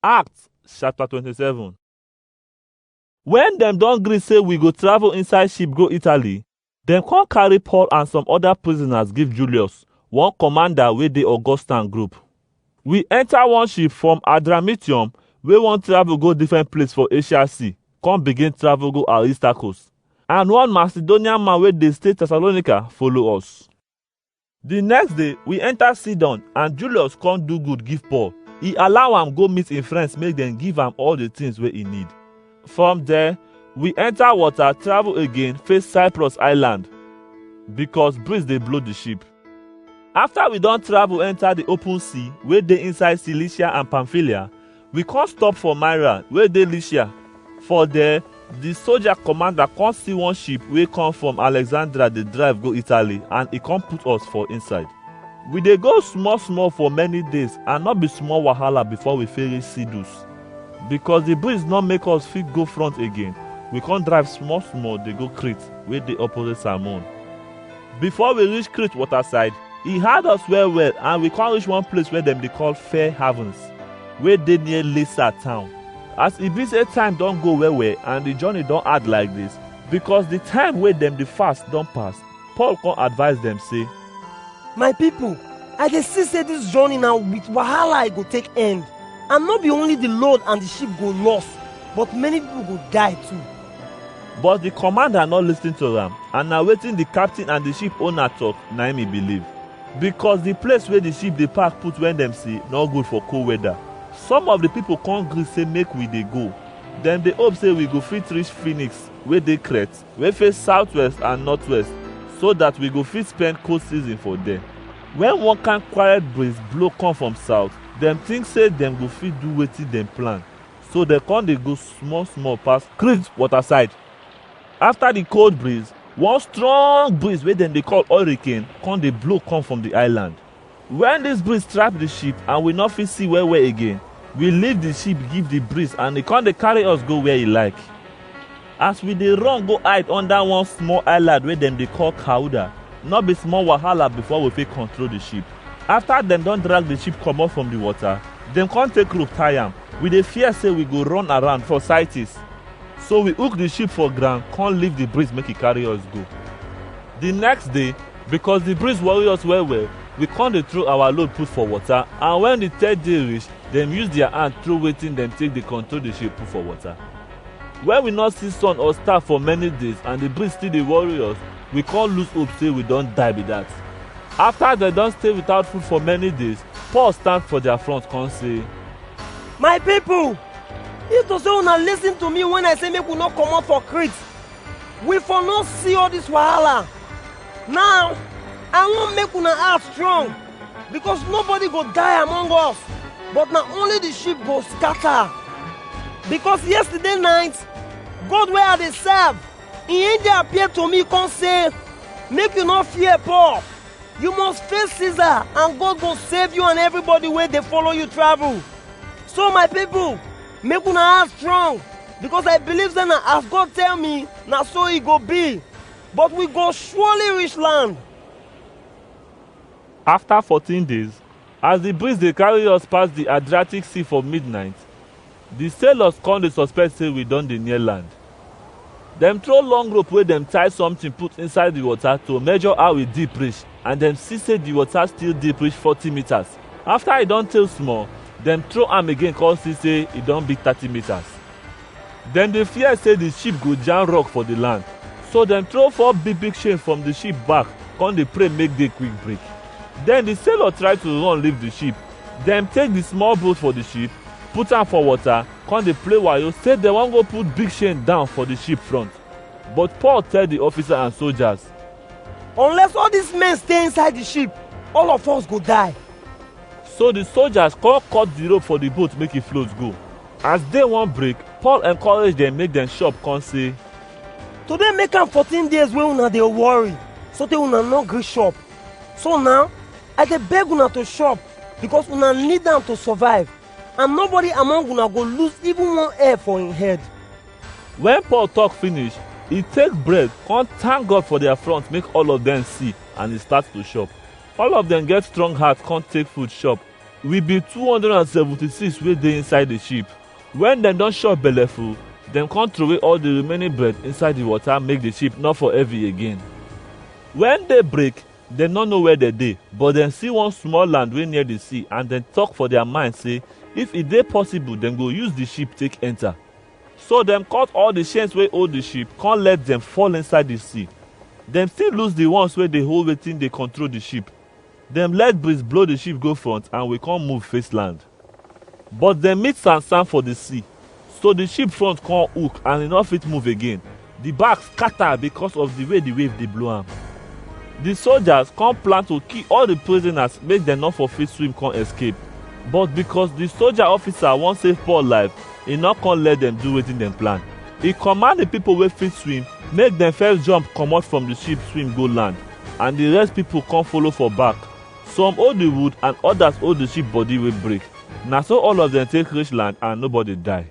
Acts chapter 27 Wen dem don gree say we go travel inside ship go Italy, dem come carry Paul and some other prisoners give Julius, one commander wey dey Augustan group. We enter one ship from Adramyttium wey wan travel go different place for Asia Sea, come begin travel go Aristarchus. And one Macedonian man wey dey stay Thessalonica follow us. The next day, we enter Sidon and Julius come do good give Paul. He allow am go meet him friends make dem give am all the things wey he need. From there, we enter water travel again face Cyprus island because breeze dey blow the ship. After we don travel enter the open sea wey dey inside Cilicia and Pamphylia, We come stop for Myra wey dey Lycia. For there, the soldier commander come see one ship wey come from Alexandria dey drive go Italy and e come put us for inside. We dey go small small for many days and no be small wahala before we fit reach Sidus. Because the breeze no make us fit go front again, we come drive small small dey go Crete wey dey opposite Salmon. Before we reach Crete water side, e hard us well well and we come reach one place wey dem dey call Fair Havens, wey dey near Lisa town. As e be say time don go well well and the journey don hard like this, because the time wey dem dey fast don pass, Paul come advise dem say, My people, I dey see say this journey na with wahala e go take end. And no be only the load and the ship go loss, but many people go die too. But the commander no listen to am and na wetin the captain and the ship owner talk na im he believe. Because the place wey the ship dey park put when dem see no good for cold weather. Some of the people come gree say make we dey go. Dem dey hope say we go fit reach Phoenix wey dey Crete wey face southwest and northwest so that we go fit spend cold season for there. When one kind quiet breeze blow come from south, dem think say dem go fit do wetin dem plan. so dem con dey go small small pass Crete waterside. After the cold breeze, one strong breeze wey dem dey call hurricane con dey blow come from the island. When this breeze trap the ship and we no fit see well well again, we leave the ship give the breeze and e con dey carry us go where e like. As we dey run go hide under one small island wey dem dey call Kauda, no be small wahala before we fit control the ship. After dem don drag the ship comot from the water, dem come take rope tie am. We dey fear say we go run around for Syrtis. So we hook the ship for ground come leave the breeze make e carry us go. The next day, because the breeze worry us well well, we come dey throw our load put for water and when the third day reach, dem use their hand throw wetin dem take dey control the ship put for water. Wen we nor see sun or star for many days and di breeze still dey worry us, we con lose hope sey we don die be dat. Afta dem don stay without food for many days, Paul stand for dia front con say, My pipo, if to sey una lisin to mi wen I sey make we nor comot for Crete, we for nor see all dis wahala. Naw, I won make una heart strong. Because nobody go die among us, but na only the sheep go scatter. Because yesterday night, God wey I dey serve, im angel appear to me come say, Make you no fear, Paul. You must face Caesar, and God go save you and everybody wey dey follow you travel. So my people, make una heart strong, because I believe say na as God tell me, na so e go be. But we go surely reach land. After fourteen days, as di breeze dey carry us pass di Adriatic Sea for midnight, di sailors come dey suspect say we don dey near land. Dem throw long rope wey dem tie something put inside di water to measure how e deep reach and dem see say di water still deep reach forty meters. After e don tey small, dem throw am again come see say e don be thirty meters. Dem dey fear sey di ship go jam rock for di land, so dem throw four big big chain from di ship back kon dey pray make day quick break. Den di sailor try to run leave di ship, dem take di small boat for di ship, put am for water, kon dey play wayo sey dem wan go put big chain down for di ship front. But Paul tell di officer and sojas, Unless all dis men stay inside di ship, all of us go die. So di sojas kon cut di rope for di boat make e float go. As day wan break, Paul encourage dem make dem chop come say, Today make am 14 days wey una dey worry so tey una no gree chop. So now, I dey beg una to chop because una need am to survive and nobody among una go lose even one hair for im head. When Paul talk finish, he take bread, come thank God for their front, make all of them see, and he start to chop. All of them get strong heart, come take food chop. Wi bi two hundred and seventy-six wey dey inside di ship. Wen dem don shop belleful, dem kon trowey all di remaining bread inside di wota make di ship nor for heavy again. Wen day break, dem nor know where dem dey, but dem si one small land wey near di sea and dem tok for dia mind sey if e dey possible dem go use di ship take enter. So dem cut all di chains wey hold di ship kon let dem fall inside di sea. Dem still loose di ones wey dey hold wetin dey control di ship. Dem let breeze blow di ship go front and we kon move face land. But dem meet sand-sand for di sea, so di ship front kon hook and e nor fit move again, di back skata bikos of di way di wave dey blow am. Di sojas kon plan to kill all di prisonas make dem nor for fit swim kon escape, but bikos di soja ofisa won save Paul life, e nor kon let dem do wetin dem plan. E kommand di pipol wey fit swim make dem first jump komot from di ship swim go land, and di rest pipo kon follow for back. Some hold di wood and odas hold di ship body wey break. Na so all of dem take reach land and nobody die.